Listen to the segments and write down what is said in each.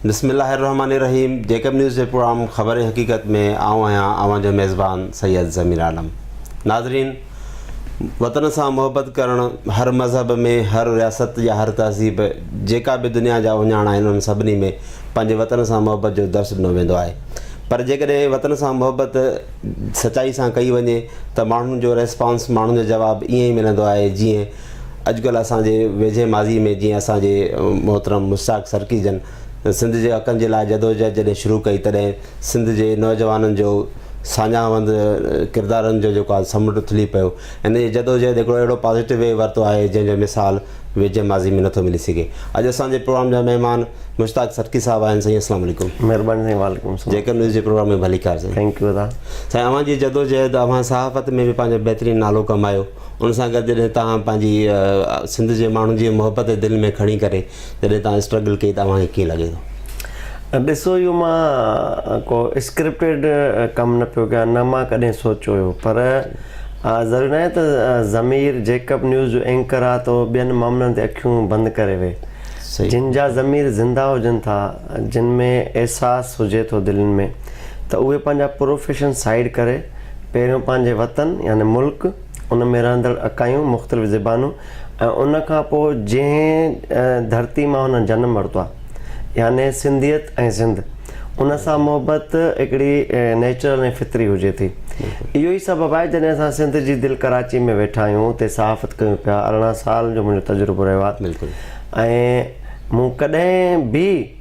بسم الله الرحمٰن الرحيم جيڪب نيوز جي پروگرام خبر حقيقت ۾ آئون آهيان اوهان جو ميزبان سيد ضمير عالم ناظرين وطن سان محبت ڪرڻ هر مذهب ۾ هر رياست يا هر تهذيب جيڪا به دنيا جا اهڃاڻ آهن انهن سڀني ۾ پنهنجي وطن سان محبت جو درس ڏنو ويندو آهي پر جيڪڏهن وطن سان محبت سچائي سان ڪئي وڃي ته ماڻهن جو ريسپانس ماڻهن جو جواب ائين ئي ملندو آهي جيئن اڄڪلهه اسان جي ويجهي ماضي ۾ جيئن اسان جي محترم مشتاق سرڪي جن سنڌ جي حقن جي لاء جدوجهد جڏهن شروع ڪئي تڏهن سنڌ جي نوجوانن جو ساڃاهوند ڪردارن جو جيڪو آهي سمنڊ اٿلي پيو ان جي جدوجهد هڪڙو اهڙو پازيٽو وي ورتو آهي جنهن جو مثال ويجهي ماضي ۾ نٿو ملي سگهي اڄ اسان جي پروگرام جا مهمان مشتاق سرڪي صاحب آهن سائين اسلام عليڪم مهرباني سائين وعليڪم السلام جيڪر نيوز جي پروگرام ۾ ڀليڪار سائين ٿينڪ يو ادا سائين اوهان جي جدوجهد اوهان صحافت ۾ به پنهنجو بهترين نالو ڪمايو ان سان گڏ جڏهن توهان پنهنجي سنڌ جي ماڻهن جي محبت دل ۾ کڻي ڪري جڏهن توهان اسٽرگل ڪئي ته اوهان کي ڪيئن لڳي ٿو؟ ڏسو اهو مان ڪو اسڪرپٽيڊ ڪم نه پيو ڪيان نه مان ڪڏهن سوچيو هيو پر ضروري ناهي ته ضمير جيڪب نيوز جو اينڪر آ تو ٻين معاملن تي اکيون بند ڪري ويهه جن جا ضمير زنده هجن ٿا جن ۾ احساس هجي ٿو دلين ۾ ته اهي پنهنجا پروفيشن سائيڊ ڪري پهريون پنهنجي وطن يعني ملڪ، ان ۾ رهندڙ اڪايون، مختلف زبانون ۽ ان کان پوء جنهن ڌرتي مان هنن جنم ورتو آهي يعني سنڌيت ۽ سنڌ ان سان محبت هڪڙي نيچرل ۽ فطري هجي ٿي. اهو ئي سبب آهي جڏهن اسان سنڌ جي دل ڪراچي ۾ ويٺا آهيون اتي صحافت ڪيون پيا ارڙهن سال جو منهنجو تجربو رهيو آهي ۽ مون ڪڏهن به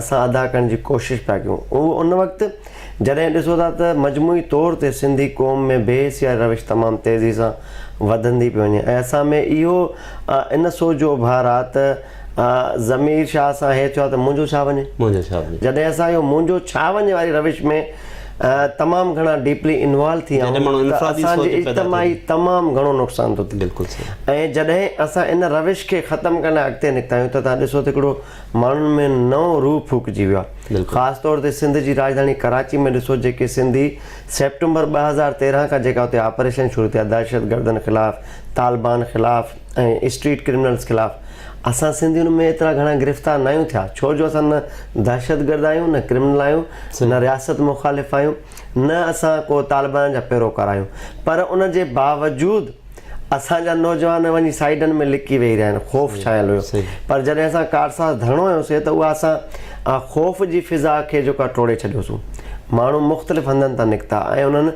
اسان ادا ڪرڻ جي ڪوشش پيا ڪيون اهو ان وقت جڏهن ڏسو ٿا ته مجموعي طور تي سنڌي قوم ۾ بي حسيائي روش تمام تيزي سان وڌندي پئي وڃي ۽ اسان ۾ اهو ان سوچ جو اڀار آ ته ضمير شاهه سان هي ٿيو آ ته منهنجو ڇا وڃي منهنجو ڇا وڃي جڏهن اسان اهو منهنجو ڇا وڃي واري روش ۾ تمام گهڻا ڊيپلي انوالو ٿي ويا آهيون ته اسان جي اجتماعي تمام گهڻو نقصان ٿو ٿئي ۽ جڏهن اسان ان روش کي ختم ڪرڻ لاء اڳتي نڪتا آهيون ته تهان ڏسو ته هڪڙو ماڻهن ۾ نئون روح ڦوڪجي ويو آهي خاص طور تي سنڌ جي راڄڌاڻي ڪراچي ۾ ڏسو جيڪي سنڌي سيپٽمبر ٻه هزار تيرهن کان جيڪا اتي آپريشن شروع ٿيا دهشتگردن خلاف طالبان خلاف ۽ اسٽريٽ ڪرمنلز خلاف اسان سنڌي ان ۾ ايترا گهڻا گرفتار نه آهيون ٿيا ڇو جو اسان نه دهشتگرد آهيون نه ڪرمنل آهيون نه رياست مخالف آهيون نه اسان ڪو طالبان جا پيروڪار آهيون پر ان جي باوجود اسان جا نوجوان وڃي سائيڊن ۾ لڪي ويهي رهيا آهن خوف ڇانيل هيو پر جڏهن اسان ڪارساز ڌرڻو هنيوسين ته اها اسان خوف جي فضا کي جيڪو آهي ٽوڙي ڇڏيوسون ماڻهو مختلف هنڌن تان نڪتا ۽ انهن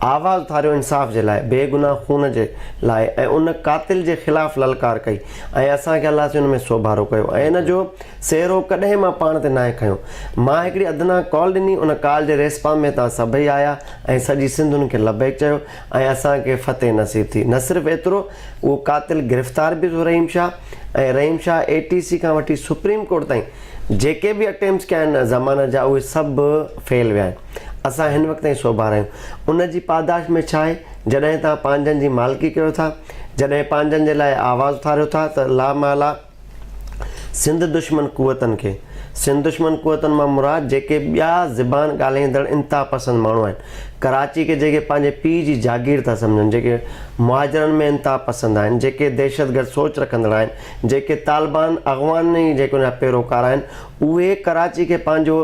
آواز اٿاريو انصاف جي لاء بي گناهه خون جي لاء ۽ ان قاتل جي خلاف للڪار ڪئي ۽ اسان کي الله سيون ۾ سوڀارو ڪيو ۽ ان جو سهرو ڪڏهن مان پاڻ تي ناهي کنيو مان هڪڙي ادنيٰ ڪال ڏني ان ڪال جي ريسپانس ۾ تان سڀئي آيا ۽ سڄي سنڌ ان کي لبيڪ چيو ۽ اسان کي فتح نصيب ٿي. نه صرف ايترو، اهو قاتل گرفتار به ٿيو رحيم شاهه ۽ رحيم شاهه اي ٽي سي کان وٺي سپريم ڪورٽ تائين جيڪي به اٽيمپس ڪيا آهن ضمانت جا اهي سڀ فيل ويا آهن. اسان هن وقت تائين سوڀارا آهيون. ان جي پاداش ۾ ڇا آهي؟ جڏهن توهان پنهنجن جي مالڪي ڪيو ٿا، جڏهن پنهنجن جي لاء آواز اٿاريو ٿا ته لا محاله، سنڌ دشمن قوتن کي سنڌ دشمن قوتن مان مراد جيڪي ٻيا زبان ڳالهائيندڙ انتها پسند ماڻهو آهن ڪراچي کي جيڪي پنهنجي پيء جي جاگير ٿا سمجهن جيڪي مهاجرن ۾ انتها پسند آهن جيڪي دهشتگرد سوچ رکندڙ آهن جيڪي طالبان اغواني جيڪي جا پيروڪار آهن اهي ڪراچي کي پنهنجو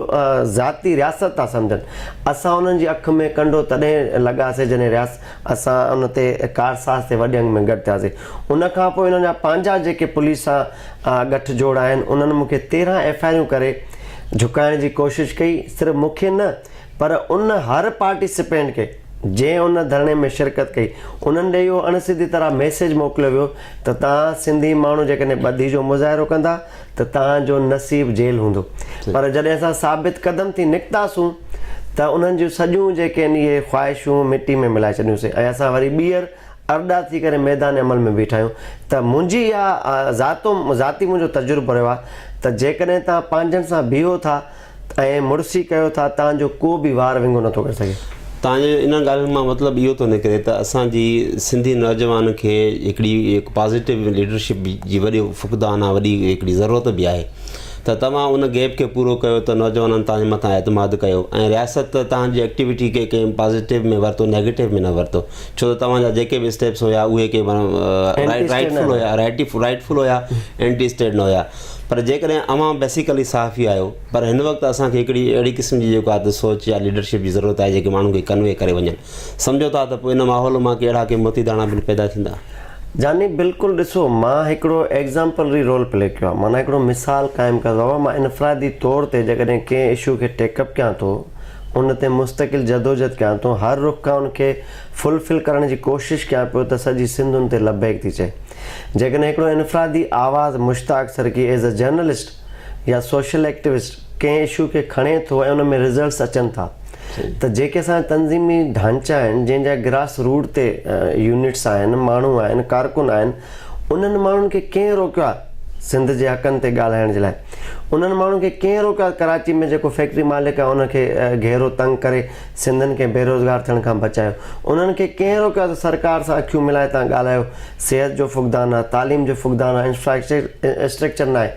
ذاتي رياست ٿا سمجهن اسان انهن جي اک ۾ ڪنڊو تڏهن لڳاسي جڏهن رياست اسان ان تي ڪارساز تي وڏي انگ ۾ گڏ ٿياسين. ان کان پوء انهن جا پنهنجا جيڪي پوليس سان ڳٺ جوڙ آهن، انهن مون کي تيرهن ايف آء آرون ڪري جهڪائڻ جي ڪوشش ڪئي، صرف مون کي نه پر ان هر پارٽيسپينٽ کي جنهن ان ڌرڻي ۾ شرڪت ڪئي، انهن ڏي اهو اڻ سڌي طرح ميسيج موڪليو ويو ته توهان سنڌي ماڻهو جيڪڏهن ٻڌي جو مظاهرو ڪندا ته توهان جو نصيب جيل هوندو پر جڏهن اسان ثابت قدم ٿي نڪتاسون ته انهن جون سڄيون جيڪي آهن اهي خواهشون مٽي ۾ ملائي ڇڏيونسين ۽ اسان وري ٻيهر ارڏا ٿي ڪري ميدان عمل ۾ بيٺا آهيون ته منهنجي اها ذاتي منهنجو تجربو رهيو آهي ته جيڪڏهن توهان پنهنجن سان بيهو ٿا ائين مڙسي ڪيو ٿا تان جو ڪو به وار ونگو نٿو ڪري سگهي. تان جو انهن ڳالهين مان مطلب اهو ٿو نڪري ته اسان جي سنڌي نوجوان کي هڪڙي هڪ پازيٽو ليڊرشپ جي وڏو فقدان آهي وڏي هڪڙي ضرورت به آهي ته توهان ان گيپ کي پورو ڪيو ته نوجوانن توهان جي مٿان اعتماد ڪيو ۽ رياست ته توهان جي ايڪٽيوٽي کي ڪنهن پازيٽو ۾ ورتو نيگيٽو ۾ نه ورتو ڇو ته توهان جا جيڪي به اسٽيپس هيا اهي ڪي رائٽ رائٽ فل هيا رائٽ فل هيا اينٽي اسٽيٽ نه هيا پر جيڪڏهن اوهان بيسيڪلي صحافي آهيو پر هن وقت اسان کي هڪڙي اهڙي قسم جي جيڪو آهي ته سوچ يا ليڊرشپ جي ضرورت آهي جيڪي ماڻهن کي ڪنوي ڪري وڃن سمجهو ٿا ته پوء ان ماحول مان ڪهڙا ڪي موتي داڻا بن پيدا ٿيندا. جاني، بلڪل ڏسو مان هڪڙو ايگزامپلري رول پلي ڪيو آهي معنيٰ هڪڙو مثال قائم ڪيو اهو مان انفرادي طور تي جيڪڏهن ڪنهن اشو کي ٽيڪ اپ ڪيان ٿو ان تي مستقل جدوجهد ڪيان ٿو هر رخ کان ان کي فلفل ڪرڻ جي ڪوشش ڪيان پيو ته سڄي سنڌ ان تي لبيڪ ٿي چئي جيڪڏهن هڪڙو انفرادي آواز Mushtaq Sarki as a journalist يا سوشل ايڪٽوسٽ ڪنهن اشو کي کڻي ٿو ۽ ان ۾ رزلٽس اچن ٿا ته جيڪي اسان جا تنظيمي ڍانچا آهن جنهن جا گراس روٽ تي يونٽس آهن ماڻهو آهن ڪارڪن آهن انهن ماڻهن کي ڪنهن روڪيو آهي سنڌ جي حقن تي ڳالهائڻ جي لاء انهن ماڻهن کي ڪنهن روڪيو آهي ڪراچي ۾ جيڪو فيڪٽري مالڪ آهي ان کي گهيرو تنگ ڪري سنڌين کي بيروزگار ٿيڻ کان بچايو. انهن کي ڪنهن روڪيو آهي ته سرڪار سان اکيون ملائي تان ڳالهايو. صحت جو فقدان آهي، تعليم جو فقدان آهي، انفراسٽرڪچر ناهي،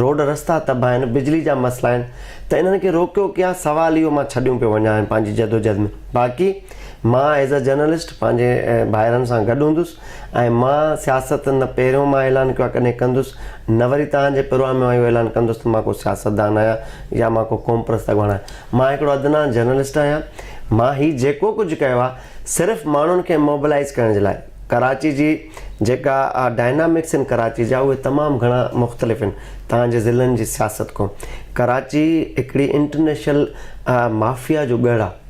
روڊ رستا تباهه آهن، بجلي جا مسئلا آهن ته انهن کي روڪيو ڪيئن آهي سوال اهو مان ڇڏيون پيو وڃان هين پنهنجي جدوجهد ۾ باقي مان ايز اي جرنلسٽ پنهنجي ڀائرن سان گڏ هوندس ۽ مان سياست نه پهريون مان اعلان ڪيو آهي ڪڏهن ڪندس نه وري توهان جي پروان ۾ مان اهو اعلان ڪندس ته مان ڪو سياستدان آهيان يا مان ڪو قومپرست اڳواڻ آهيان. مان هڪڙو ادنان جرنلسٽ آهيان، مان هي جيڪو ڪجهه ڪيو آهي صرف ماڻهن کي موبلائيز ڪرڻ جي لاء، ڪراچي جي جيڪا ڊائنامڪس آهن ڪراچي جا اهي تمام گهڻا مختلف آهن توهان جي ضلعن جي سياست کون، ڪراچي هڪڙي انٽرنيشنل مافيا جو ڳڙهه آهي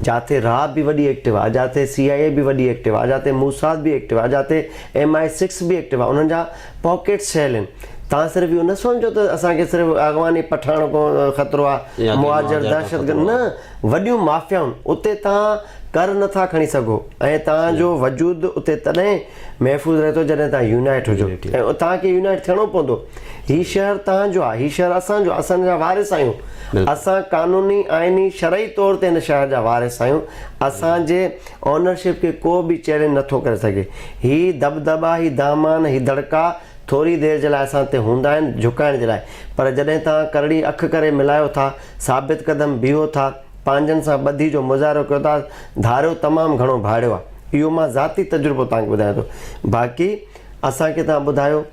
جاتي را به وڏي ايڪٽو آهي جاتي سي آء اي به وڏي ايڪٽو آهي جاتي موساد به ايڪٽو آهي جاتي ايم آء سڪس به ايڪٽو آهي انهن جا. پاڪيٽس ٺهيل آهن تان صرف اهو نه سوچو ته اسان کي صرف اغواني پٺاڻ کان خطرو آ مهاجر دهشت گرد نه وڏيون مافيائون اتي تان ڪر نه ٿا کڻي سگهو ۽ تان جو وجود اتي تڏهن محفوظ رهي ٿو جڏهن تان يونائيٽ هجو ۽ تان کي يونائيٽ ٿيڻو پوندو هي شهر تان جو آ هي شهر اسان جو آ اسان جا وارث آهيون اسان قانوني آئيني شرعي طور تي هن شهر جا وارث آهيون اسان جي آنرشپ کي ڪو به چئلينج نه ٿو ڪري سگهي. هي دٻدٻا، هي دامان، هي دڙڪا ٿوري دير جي لاء اسان تي هوندا آهن، جهڪائڻ جي لاء، پر جڏهن توهان ڪرڙي اک ڪري ملايو ٿا، ثابت قدم بيهو ٿا، پنهنجن سان ٻڌي جو مظاهرو ڪيو ٿا، ڌاريو تمام گهڻو ڀاڙيو آهي. اهو مان ذاتي تجربو توهان کي ٻڌايان ٿو. باقي. اسان کي توهان ٻڌايو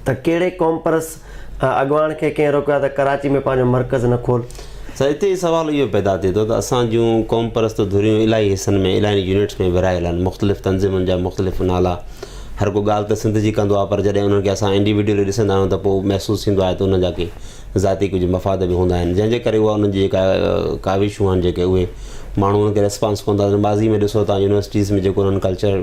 ته ڪهڙي قومپرست اڳواڻ کي ڪنهن روڪيو آهي ته ڪراچي ۾ پنهنجو مرڪز نه کول؟ سر اتي سوال اهو پيدا ٿئي ٿو ته اسان جون قومپرست ڌريون الائي حصن ۾ الائين يونٽس ۾ ورهايل آهن مختلف تنظيمن جا مختلف نالا هر ڪو ڳالهه ته سنڌ جي ڪندو آهي پر جڏهن انهن کي اسان انڊيوڊيولي ڏسندا آهيون ته پوء محسوس ٿيندو آهي ته انهن جا ڪي ذاتي ڪجهه مفاد به هوندا آهن جنهن جي ڪري اها انهن جي جيڪا ڪاوشون آهن جيڪي اهي ماڻهو انهن کي ريسپانس ڪونه ٿا ڏين ماضي ۾ ڏسو تان يونيورسٽيز ۾ جيڪو انهن ڪلچر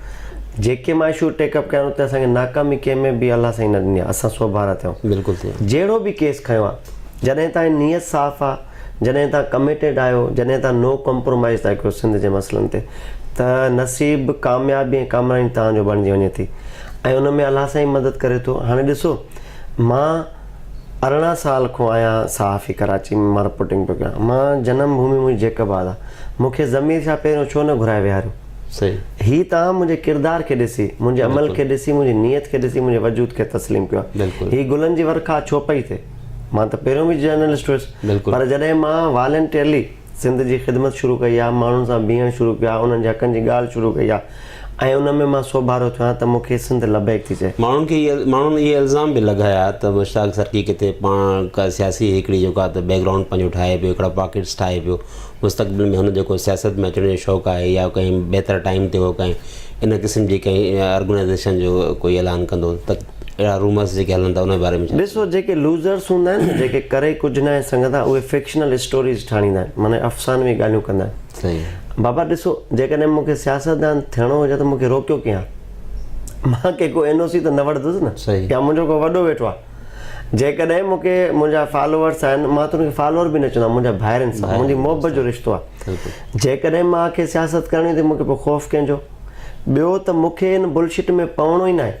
جيڪي معاشيون ٽيڪ اپ ڪيا آهن اتي اسان کي ناڪامي ڪنهن ۾ به الله سائين نه ڏني آهي اسان سوڀارا ٿيا آهيون بلڪل ٿي آهيون جهڙو به ڪيس کنيو آهي جڏهن تائين نيت صاف آهي جڏهن تائين ڪميٽيڊ آهيو جڏهن تائين نو ڪمپرومائز ٿا ڪيو سنڌ جي مسئلن تي ته نصيب ڪاميابي ۽ ڪامرائي توهان جو بڻجي وڃي ٿي ۽ ان ۾ الله سائين مدد ڪري ٿو هاڻي ڏسو مان ارڙهن سال کون آهيان صحافي ڪراچي ۾ مان رپورٽنگ پيو ڪيان مان جنم ڀومي منهنجي جيڪب آباد آهي مون کي ضمير شاهه پهريون ڇو نه گهرائي ويهاريو هي توهان منهنجي ڪردار کي ڏسي، منهنجي عمل کي ڏسي، منهنجي نيت کي ڏسي منهنجي وجود کي تسليم ڪيو آهي. هي گلن جي ورکا ڇو پئي ٿئي؟ مان ته پهريون به جرنلسٽ هيس پر جڏهن مان والنٽيئرلي سنڌ جي خدمت شروع ڪئي آهي، ماڻهن سان بيهڻ شروع ڪيو آهي، انهن جي حقن جي ڳالهه شروع ڪئي آهي ۽ ان ۾ مان سوڀارو ٿيو آهيان ته مون کي سنڌ لبيڪ ٿي چئي. ماڻهن کي ماڻهن اهي الزام به لڳايا ته مشتاق سرڪي ڪٿي پاڻ ڪا سياسي هيڪڙي جو ڪا ته بيڪ گرائونڊ پنهنجو ٺاهي پيو، هڪڙا پاڪيٽس ٺاهي پيو، مستقبل ۾ هن جو ڪو سياست ۾ اچڻ جو شوق آهي يا ڪنهن بهتر ٽائيم تي هو ڪنهن ان قسم جي ڪنهن ارگنائيزيشن جو ڪوئي اعلان ڪندو ته اهڙا رومرس جيڪي هلن ٿا ان جي باري ۾ ڇا چوندو؟ ڏسو جيڪي لوزرس هوندا آهن نه جيڪي ڪري ڪجهه ناهي سگهندا اهي فڪشنل اسٽوريز ٺاڻيندا آهن معنيٰ افسانوي ڳالهيون ڪندا آهن. صحيح. بابا ڏسو جيڪڏهن مونکي سياستدان ٿيڻو هجي ها ته مونکي روڪيو ڪيئن ها مان ڪي ڪو اين او سي ته نه وٺدس نه صحيح. يا منهنجو ڪو وڏو ويٺو آهي. جيڪڏهن مون کي منهنجا فالوورس آهن مان ته ان کي فالوور به نه چوندو آهيان منهنجا ڀائر آهن سڀ منهنجي محبت جو رشتو آهي جيڪڏهن مان کي سياست ڪرڻي ته مون کي پوء خوف ڪنهن جو ٻيو ته مون کي ان بل شٽ ۾ پوڻو ئي نه آهي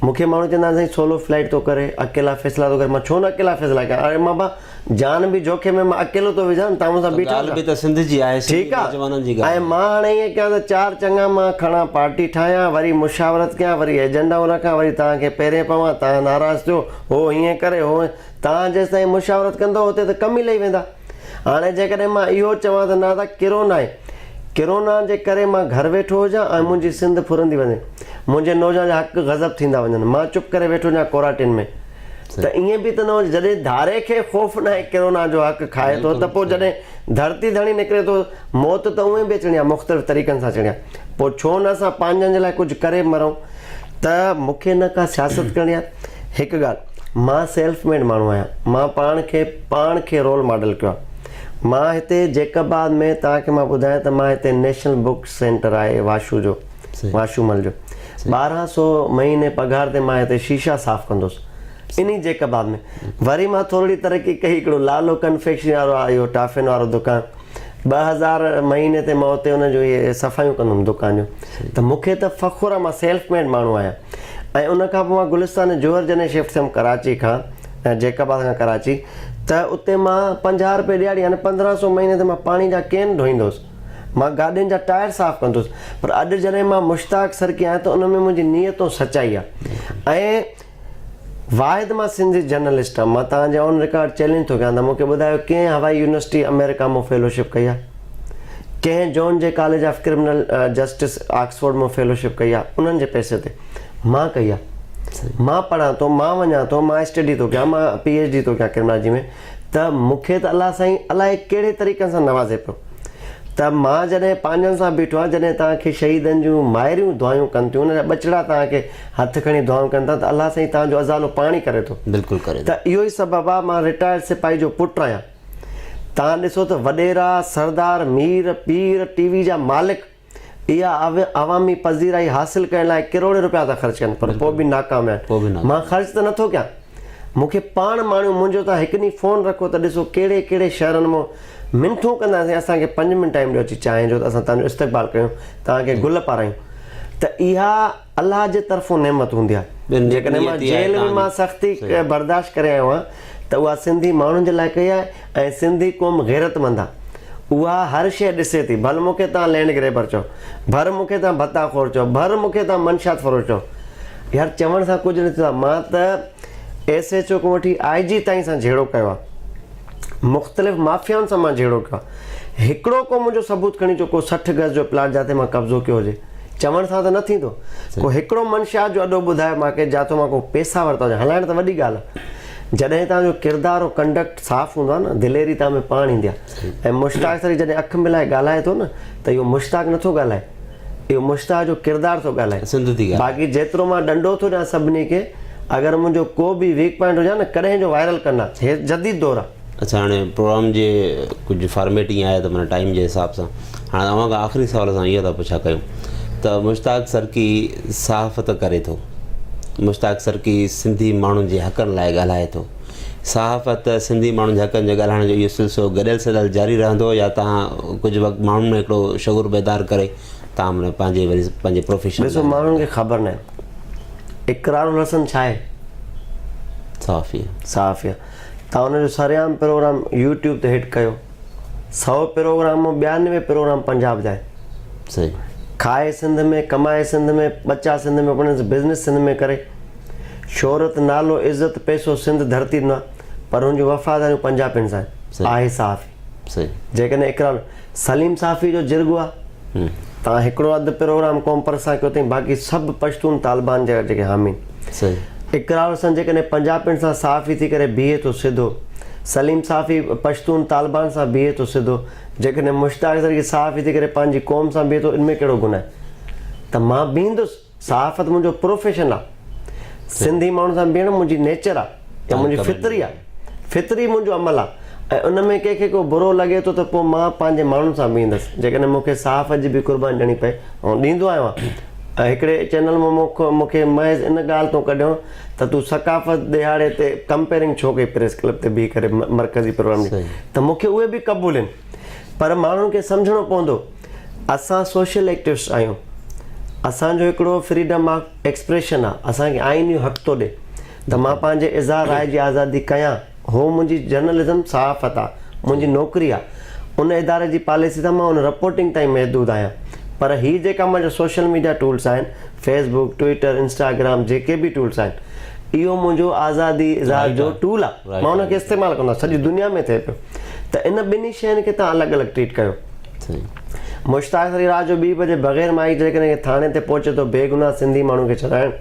مون کي ماڻهو چوندا آهن سائين سولو فلائيٽ ٿو ڪري اڪيلا فيصلا ٿو ڪري مان ڇو نه اڪيلا فيصلا ڪريان جان به جوکي ۾ مان اڪيلو ٿو وجهان تان مون سان بيٺا ڳالهه به ته سنڌ جي آهي سنڌي نوجوانن جي ڳالهه ۽ مان هاڻي ائين ڪيان ته چار چڱا مان کڻان پارٽي ٺاهيان وري مشاورت ڪيان وري ايجنڊائون رکان وري توهان کي پيرين پوان توهان ناراض ٿيو هو هيئن ڪري هو توهان جيستائين مشاورت ڪندو هتي ته ڪم ئي لهي ويندا هاڻي جيڪڏهن مان اهو چوان ته نادا ڪرونائي ڪرونا جي ڪري مان گهر ويٺو هجان ۽ منهنجي سنڌ ڦرندي وڃي منهنجي نوجوان جا حق غضب ٿيندا وڃن مان چپ ڪري ويٺو هجان ڪورانٽين ۾ ته ائين به ته نه هجي جڏهن ڌاري کي خوف ناهي ڪرونا جو حق کائي ٿو ته پوء جڏهن ڌرتي ڌڻي نڪري ٿو موت ته اونئين به اچڻي آهي مختلف طريقن سان اچڻي آهي پوء ڇو نه اسان پنهنجن جي لاء ڪجهه ڪري مرون ته مون کي نه ڪا سياست ڪرڻي آهي هڪ ڳالهه مان سيلف ميڊ ماڻهو آهيان مان پاڻ کي پاڻ کي رول ماڊل ڪيو آهي مان هتي جيڪب آباد ۾ توهان کي مان ٻڌايان ته مان هتي نيشنل بوڪ سينٽر آهي واشو جو واشومل جو ٻارهن سو مهيني پگهار تي مان هتي شيشا صاف ڪندوس انهي جيڪباب ۾ وري مان ٿورڙي ترقي ڪئي هڪڙو لالو ڪنفيڪشنري وارو آ اهو ٽافين وارو دڪان ٻه هزار مهيني تي مان اتي ان جو اهي صفايون ڪندم دڪان جون ته مون کي ته فخر آ مان سيلف ميڊ ماڻهو آهيان ۽ ان کان پوء مان گلستان جوهر جڏهن شفٽ ٿيم ڪراچي کان جيڪباد کان ڪراچي ته اتي مان پنجاهه رپي ڏهاڙي يعني پندرهن سو مهيني تي مان پاڻي جا ڪين ڍوئيندوس مان گاڏين جا ٽائر صاف ڪندس پر اڄ جڏهن مان مشتاق سرڪي آهيان ته ان ۾ منهنجي نيت ۽ سچائي آهي ۽ واحد مان سنڌي جرنلسٽ آهيان مان توهان جي آن رڪارڊ چئلينج ٿو ڪيان ته مون کي ٻڌايو ڪنهن هوائي يونيورسٽي آمريڪا مان فيلوشپ ڪئي آهي ڪنهن جون جي college of criminal justice Oxford مان فيلوشپ ڪئي آهي انهن جي پئسي تي مان ڪئي آهي مان پڙهان ٿو مان وڃان ٿو مان اسٽڊي ٿو ڪيان مان پي ايڇ ڊي ٿو ڪيان ڪرمنالاجي ۾ ته مون کي ته الله سائين الائي ڪهڙي طريقن سان نوازي پيو ته مان جڏهن پنهنجن سان بيٺو آهيان جڏهن توهان کي شهيدن جون مائريون دعايون ڪن ٿيون ان جا ٻچڙا توهان کي هٿ کڻي دعائون ڪن ٿا ته الله سائين توهان جو ازالو پاڻ ئي ڪري ٿو بلڪل ڪري ته ٿو. اهو ئي سبب آهي مان رٽائرڊ سپاهي جو پٽ آهيان توهان ڏسو ته وڏيرا، سردار، مير، پير، ٽي وي جا مالڪ، اها عوامي پذيرائي حاصل ڪرڻ لاء ڪروڙين رپيا ٿا خرچ ڪن پر پوء به ناڪام ويا آهن. مان خرچ ته نٿو ڪيان. مون کي پاڻ ماڻيو منهنجو تان هڪ ڏينهن فون رکو ته ڏسو ڪهڙي ڪهڙي شهرن مون منٿون ڪنداسين اسان کي پنج منٽ ٽائيم ڏيو اچي چانهه جو ته اسان تهنجو استقبال ڪيون تهان کي گل پارايون ته اها الله جي طرفون نعمت هوندي آهي. جيڪڏهن مان جيل ۾ مان سختي برداشت ڪري آيو آهيان ته اها سنڌي ماڻهن جي لاء ڪئي آهي ۽ سنڌي قوم غيرتمند آهي. اها هر شيء ڏسي ٿي. ڀل مون کي توهان لينڊ گريبر چئو. ڀر مون کي توهان ڀتا خور چئو. ڀر مون کي توهان منشيات فروش چئو. يار چوڻ سان ڪجهه نه ٿيندو آهي. مان ته ايس ايڇ او کان وٺي آء جي تائين سان جهيڙو ڪيو آهي. مختلف مافيائن سان مان جهيڙو ڪيو آهي. هڪڙو ڪو منهنجو ثبوت کڻي اچو ڪو سٺ گز جو پلاٽ جاتي مان قبضو ڪيو هجي. چوڻ سان ته نه ٿيندو. ڪو هڪڙو منشيات جو اڏو ٻڌائي مان ڪي جاتو مان ڪو پيسا ورتا هجن. هلائڻ ته وڏي ڳالهه آهي. جڏهن توهان جو ڪردار ۽ ڪنڊڪٽ صاف هوندو آهي نه دليري توهان ۾ پاڻ ايندي آهي. ۽ مشتاق سري جڏهن اک ملائي ڳالهائي ٿو نه ته اهو مشتاق نه ٿو ڳالهائي. اهو مشتاق جو ڪردار ٿو ڳالهائي. باقي جيترو مان ڏنڊو ٿو ڏيان سڀني کي. اگر منهنجو ڪو به ويڪ پوائنٽ هجي ها نه ڪڏهن جو وائرل ڪندا. هي جديد دور آهي. اچا هاڻي پروگرام جي ڪجهه فارميٽ ائين آهي ته معنيٰ ٽائيم جي حساب سان هاڻي اوهان کان آخري سوال اسان اهو ٿا پڇا ڪيون ته مشتاق سرڪي صحافت ڪري ٿو مشتاق سرڪي سنڌي ماڻهن جي حقن لاء ڳالهائي ٿو صحافت سنڌي ماڻهن جي حقن جي ڳالهائڻ جو اهو سلسلو گڏيل سڏيل جاري رهندو يا تهان ڪجهه وقت ماڻهن ۾ هڪڙو شعور بيدار ڪري تهان معنيٰ پنهنجي وري پنهنجي پروفيشن ڏسو ماڻهن کي خبر ناهي اقرار الحسن ڇا آهي صحافي صحافي توهان ان جو سرعام پروگرام يوٽيوب تي هٽ ڪيو سئو پروگرام مان ٻيانوي پروگرام پنجاب جا آهن صحيح کائي سنڌ ۾ ڪمائي سنڌ ۾ ٻچا سنڌ ۾ پڙهن بزنس سنڌ ۾ ڪري شهرت نالو عزت پيسو سنڌ ڌرتي ڏنا پر هن جون وفاداريون پنجابين سان آهن آهي صحافي جيڪڏهن اقرار سليم صافي جو جرڳو آ تان هڪڙو اڌ پروگرام قوم پرست سان ڪيو تائين باقي سڀ پشتون طالبان جا جيڪي حامين اقرار حسن جيڪڏهن پنجابين سان صحافي ٿي ڪري بيهي ٿو سڌو سليم صافي پشتون طالبان سان بيهي ٿو سڌو جيڪڏهن مشتاق زرگي صحافي ٿي ڪري پنهنجي قوم سان بيهي ٿو ان ۾ ڪهڙو گناهه ته مان بيهندس. صحافت منهنجو پروفيشن آ سنڌي ماڻهن سان بيهڻ منهنجي نيچر آ يا منهنجي فطري آ فطري منهنجو عمل آ ۽ ان ۾ ڪنهن کي ڪو برو لڳي ٿو ته پوء مان پنهنجي ماڻهن سان بيهندس جيڪڏهن مون کي صحافت جي به قرباني ڏيڻي پئي آئون ڏيندو آهيان ۽ هڪڙي چينل مان مون کي محض ان ڳالهه تون ڪڍيو ته تون ثقافت ڏهاڙي تي ڪمپيرنگ ڇو ڪئي پريس ڪلب تي بيهي ڪري مرڪزي پروگرام جي ته مون کي اهي به قبول آهن پر ماڻهن کي سمجهڻو پوندو اسان سوشل ايڪٽوسٽ آهيون اسان جو هڪڙو فريڊم آف ايڪسپريشن آ اسان کي آئين اهو حق ٿو ڏي ته مان پنهنجي اظهار راء جي آزادي ڪيان هو منهنجي جرنلزم صحافت آ منهنجي نوڪري آ ان اداري جي پاليسي سان مان ان رپورٽنگ تائين محدود آهيان پر هي جيڪا منهنجا سوشل ميڊيا ٽولس آهن فيس بوڪ ٽوئيٽر انسٽاگرام جيڪي به ٽولس آهن اهو منهنجو آزادي اظهار جو ٽول آ مان ان کي استعمال ڪندو آهيان سڄي دنيا ۾ ٿئي پيو ته ان ٻنهي شين کي توهان الڳ الڳ ٽريٽ ڪيو مشتاق علي رات جو ٻي بجي بغير مائي جيڪڏهن ڪنهن ٿاڻي تي پهچي ٿو بيگناهه سنڌي ماڻهو کي ڇڏائڻ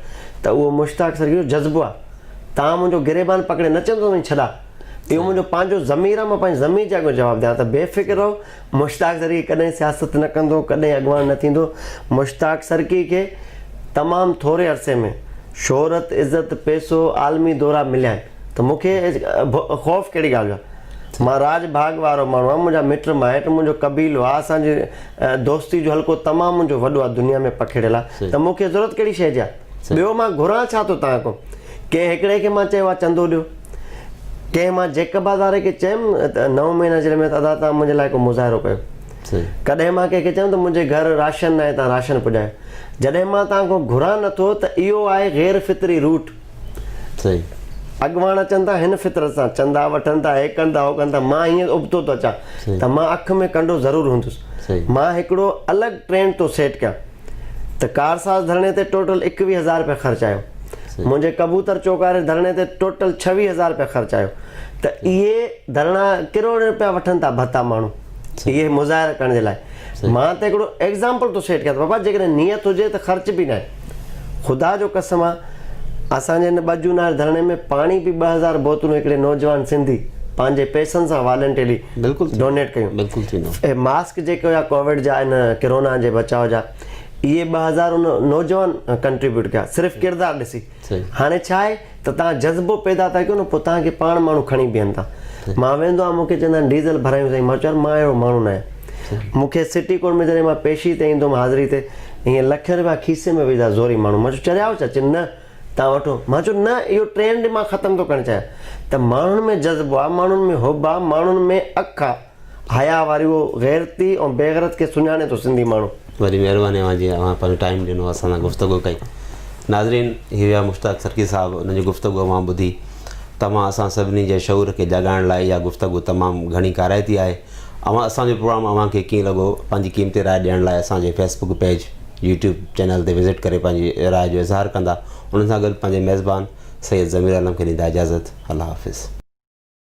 ته اهو مشتاق سرڪي جو جذبو آهي. تان منهنجو گريبان پڪڙي نه چيم ته وڃي ڇڏاء. اهو منهنجو پنهنجو ضمير آهي مان پنهنجي ضمير جي اڳيان جواب ڏيان ته بي فڪر رهو مشتاق سرڪي ڪڏهن سياست نه ڪندو ڪڏهن اڳواڻ نه ٿيندو مشتاق سرڪي کي تمام ٿوري عرصي ۾ شهرت عزت پيسو عالمي دورا مليا آهن ته مون کي خوف ڪهڙي ڳالهه جو آهي. مان راڄ ڀاڳ وارو ماڻهو آهيان، منهنجا مٽ مائٽ، منهنجو قبيلو آ، اسان جي دوستي جو حلقو تمام منهنجو وڏو آ، دنيا ۾ پکڙيل آ، ته مون کي ضرورت ڪهڙي شيء جي آ؟ ٻيو مان گهران ڇا ٿو توهان کان؟ ڪنهن هڪڙي کي مان چيو آ چندو ڏيو، ڪنهن مان جيڪب هزاري کي چيم ته نو مهينا جيل ۾ ادا توهان منهنجي لاء ڪو مظاهرو ڪيو، ڪڏهن مان ڪنهن کي چيم ته منهنجي گهر راشن ناهي توهان راشن پڄايو، جڏهن مان توهان کان گهران نٿو ته اهو آهي غير فطري روٽ. صحيح. اڳواڻ اچن ٿا هن فطرت سان چندا وٺن ٿا هي ڪن ٿا هو ڪن ٿا مان هيئن ابتو ٿو اچان ته مان اک ۾ ڪنڊو ضرور هوندس مان هڪڙو الڳ ٽرينڊ ٿو سيٽ ڪيان ته ڪارساز ڌرڻي تي ٽوٽل ايڪويهه هزار رپيا خرچ آيو منهنجي ڪبوتر چوڪاري ڌرڻي تي ٽوٽل ڇويهه هزار رپيا خرچ آيو ته اهي ڌرڻا ڪروڙين رپيا وٺن ٿا ڀتا ماڻهو اهي مظاهرا ڪرڻ جي لاء مان ته هڪڙو ايگزامپل ٿو سيٽ ڪيان ته بابا جيڪڏهن نيت هجي ته خرچ به ناهي خدا جو قسم آ اسان جي هن ٻه جون واري ڌرڻي ۾ پاڻي به ٻه هزار بوتلون هڪڙي نوجوان سنڌي پنهنجي پئسن سان والنٽيلي بلڪل ڊونيٽ ڪيون بلڪل ٿيندو اي ماسڪ جيڪي هيا ڪوويڊ جا ان ڪرونا جي بچاء جا اهي ٻه هزار ان نوجوان ڪنٽريبيوٽ ڪيا صرف ڪردار ڏسي هاڻي ڇا آهي ته توهان جذبو پيدا ٿا ڪيو نه پوء توهان کي پاڻ ماڻهو کڻي بيهن ٿا. مان ويندو آهيان مون کي چوندا آهن ڊيزل ڀرايون سائين مان چون يار مان اهڙو ماڻهو ناهيان. مون کي سٽي ڪورٽ ۾ جڏهن مان پيشي تي ايندو هوم حاضري تي ائين لکين روپيا کيسي ۾ وجهندا زوري ماڻهو مان چون چريائو ڇا چين نه توهان وٺو مان چون نه اهو ٽرينڊ مان ختم ٿو ڪرڻ چاهيان ته ماڻهن ۾ جذبو آهي ماڻهن ۾ حب آهي ماڻهن ۾ اک آهي حياء واريء غيرتي ۽ بيغرت کي سڃاڻي ٿو سنڌي ماڻهو. وڏي مهرباني اوهان جي اوهان پنهنجو ٽائيم ڏنو اسان سان گفتگو ڪئي ناظرين هي هيا مشتاق سرڪي صاحب انهن جي گفتگو اوهان ٻڌي توهان اسان سڀني جي شعور کي جاڳائڻ لاء اها گفتگو تمام گهڻي ڪارائتي آهي اوهان اسان جو پروگرام اوهان کي ڪيئن لڳو پنهنجي قيمتي راء ڏيڻ لاء اسان جي Facebook page YouTube channel تي وزٽ ڪري پنهنجي راء جو اظهار ڪندا انهن سان گڏ پنهنجي ميزبان سيد ضمير عالم کي ڏيندا اجازت الله حافظ.